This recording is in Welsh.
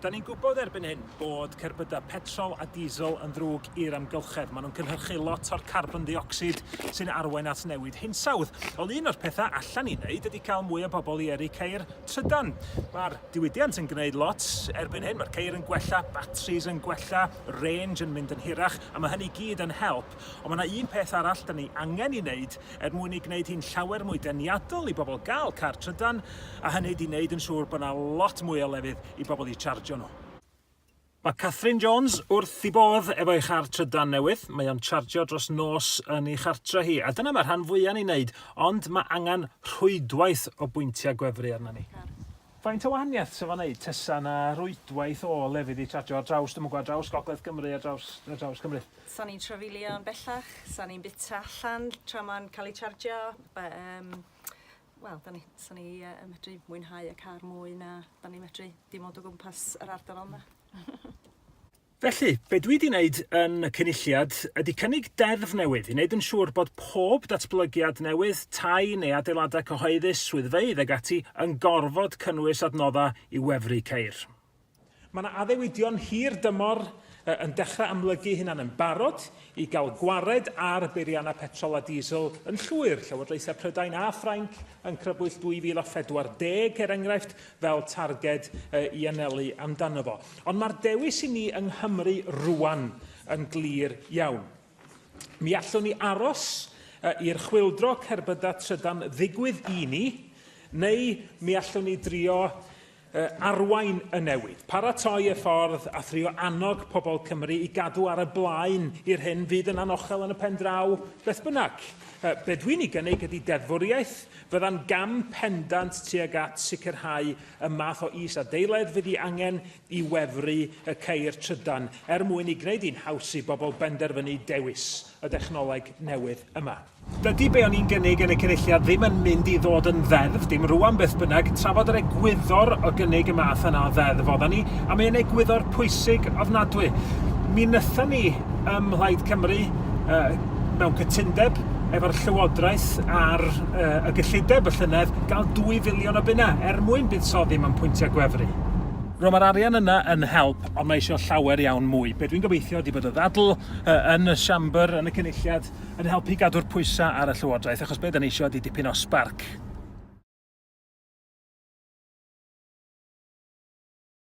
Da ni'n gwybod erbyn hyn bod cerbydau petrol a diesel yn ddrwg i'r amgylchedd. Maen nhw'n cynhyrchu lot o'r carbon ddiocsid sy'n arwain at newid hinsawdd. Ond un o'r pethau allan i wneud ydy cael mwy o bobl i yrru ceir trydan. Mae'r diwydiant yn gwneud lot erbyn hyn. Mae'r ceir yn gwella, batris yn gwella, range yn mynd yn hirach, a mae hynny gyd yn help siop, ond mae yna un peth arall da ni angen ei wneud er mwyn ei gwneud hi'n llawer mwy deniadol i bobl gael car trydan, a hynny ydy wneud yn siŵr bod yna lot mwy o lefydd i bobl eu charjio nhw. Mae Catherine Jones wrth i bodd efo'i char trydan newydd, mae o'n charjio dros nos yn ei chartre hi, a dyna mae rhan fwya' ni'n wneud, ond mae angen rhwydwaith o bwyntiau gwefru arna ni. Faint o wahaniaeth 'sa fo'n wneud tasa 'na rwydwaith o lefydd i charjio ar draws, dwi'm yn gwbod, ar draws gogledd Cymru, ar draws, ar draws Cymru? 'Sa ni'n trafeilio yn bellach, 'sa ni'n bwyta allan tra ma'n cael ei charjio, be- yym wel 'dan ni, 'sa ni yy yn medru mwynhau y car mwy na 'dan ni'n medru dim ond o gwmpas yr ardal yma. Felly, be dwi 'di wneud yn y Cynulliad ydi cynnig deddf newydd i wneud yn siŵr bod pob datblygiad newydd, tai neu adeiladau cyhoeddus, swyddfeydd ac ati, yn gorfod cynnwys adnoddau i wefru ceir. Mae 'na addewidion hir dymor yn dechrau amlygu'i hunan yn barod i gael gwared ar beiriannau petrol a diesel yn llwyr. Llywodraethau Prydain a Ffrainc yn crybwyll 2040, er enghraifft, fel targed i anelu amdano fo. Ond mae'r dewis i ni yng Nghymru rwan yn glir iawn. Mi allwn ni aros i'r chwildro cerbyda trydan ddigwydd i ni, neu mi allwn ni drio arwain y newid, paratoi y ffordd a thrio annog pobl Cymru i gadw ar y blaen i'r hyn fydd yn anochel yn y pen draw beth bynnag. Be dwi'n ei gynnig ydy deddfwriaeth Byddai'n gam pendant tuag at sicrhau y math o is-adeiledd fydd ei angen i wefru y ceir trydan, er mwyn ei gwneud hi'n haws i bobl benderfynu dewis y dechnoleg newydd yma. Dydy be o'n i'n gynnig yn y Cynulliad ddim yn mynd i ddod yn ddeddf, dim rwan beth bynnag, trafod yr egwyddor o gynnig y math yna o ddeddf oeddan ni, a mae e'n egwyddor pwysig ofnadwy. Mi wnaethon ni ym Mhlaid Cymru, yy, mewn cytundeb efo'r Llywodraeth ar uh, y gyllideb y llynedd gael 2 filiwn o bunna er mwyn buddsoddi mewn pwyntiau gwefru. Rwy'n mae'r arian yna yn help, ond mae eisiau llawer iawn mwy. Be dwi'n gobeithio ydy bod y ddadl uh, yn y siambr, yn y cynulliad, yn helpu gadw'r pwysau ar y Llywodraeth, achos be dyn eisiau ydy dipyn o sbarc.